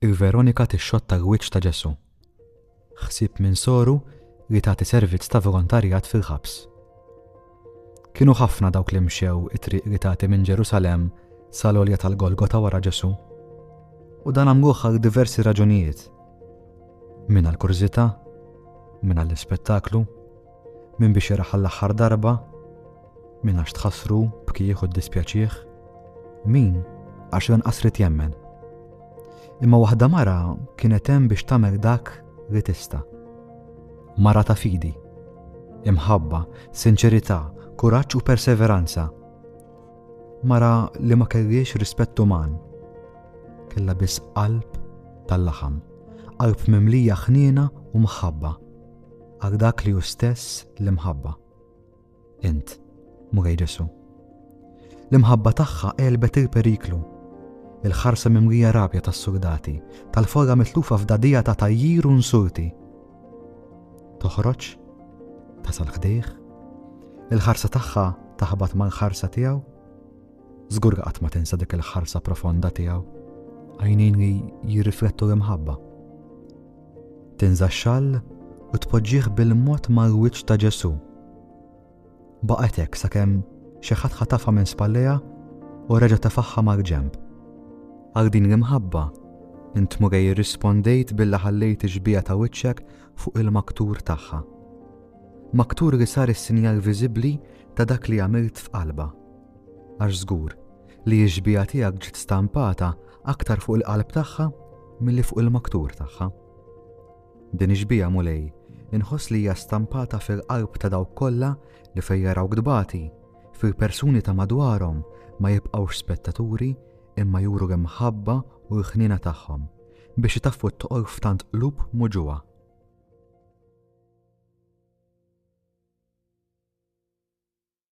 Ir Veronika tixxotta l-wiċċ ta' Ġesù. Ħsieb minn soru li tagħti servizz ta' volontarjat fil-ħabs. Kienu ħafna dawk li mxew it-triq li tagħti minn Ġerusalemm sal-olja tal-Golgota wara Ġesù. U dan għamluh għal diversi raġunijiet. Min għal kurżità, min għall-ispettaklu, Min biex jaraħ għall-aħħar darba, min għax tħassru, bkih u ddispjaċih, min għax lanqas rid jemmen. Imma waħda mara kienet hemm biex tagħmel dak li tista'. Mara ta' fidi, imħabba, sinċerità, kuraġġ u perseveranza. Mara li ma kelliex rispett uman. Kella biss qalb tal-laħam, qalb mimlija ħniena u mħabba. Għal dak li hu stess l-imħabba. Int, Mulej Ġesu. L-imħabba tagħha qelbet il-periklu. Il-ħarsa mimrija rabja tas-surdati, tal-forra mitlufa f'dadija ta' tajjir u nsulti. Toħroġ, tasal ħdejh, il-ħarsa tagħha taħbat mal-ħarsa tiegħu. Żgur qatt ma tinsa dik il-ħarsa profonda tiegħu. Għajnejn li jirriflettu l-imħabba. Tinża' xall u tpoġġih bil-mod mal-wiċċ ta' Ġesù. Baqgħet hekk sakemm xi ħadd ħatafha minn spallejha u reġa' tefagħha mal-ġenb. Għal din l-imħabba, int Mulej irrispondejt billi ħallejt ix-xbieha ta' wiċċek fuq il-maktur tagħha. Maktur li sar is-sinjal viżibbli ta' dak li għamilt f'qalbha. Għax żgur, li x-xbieha tiegħek ġiet stampata aktar fuq il-qalb tagħha milli fuq il-maktur tagħha. Din ix-xbieha Mulej inħoss li hija stampata fil-qalb ta' dawk kollha li fejn jarawk tbati, fil-persuni ta' madwarhom ma jibqgħux spettaturi imma juru l-imħabba u l-ħniena tagħhom biex itaffu t-toqol f'tant qlub muġugħa.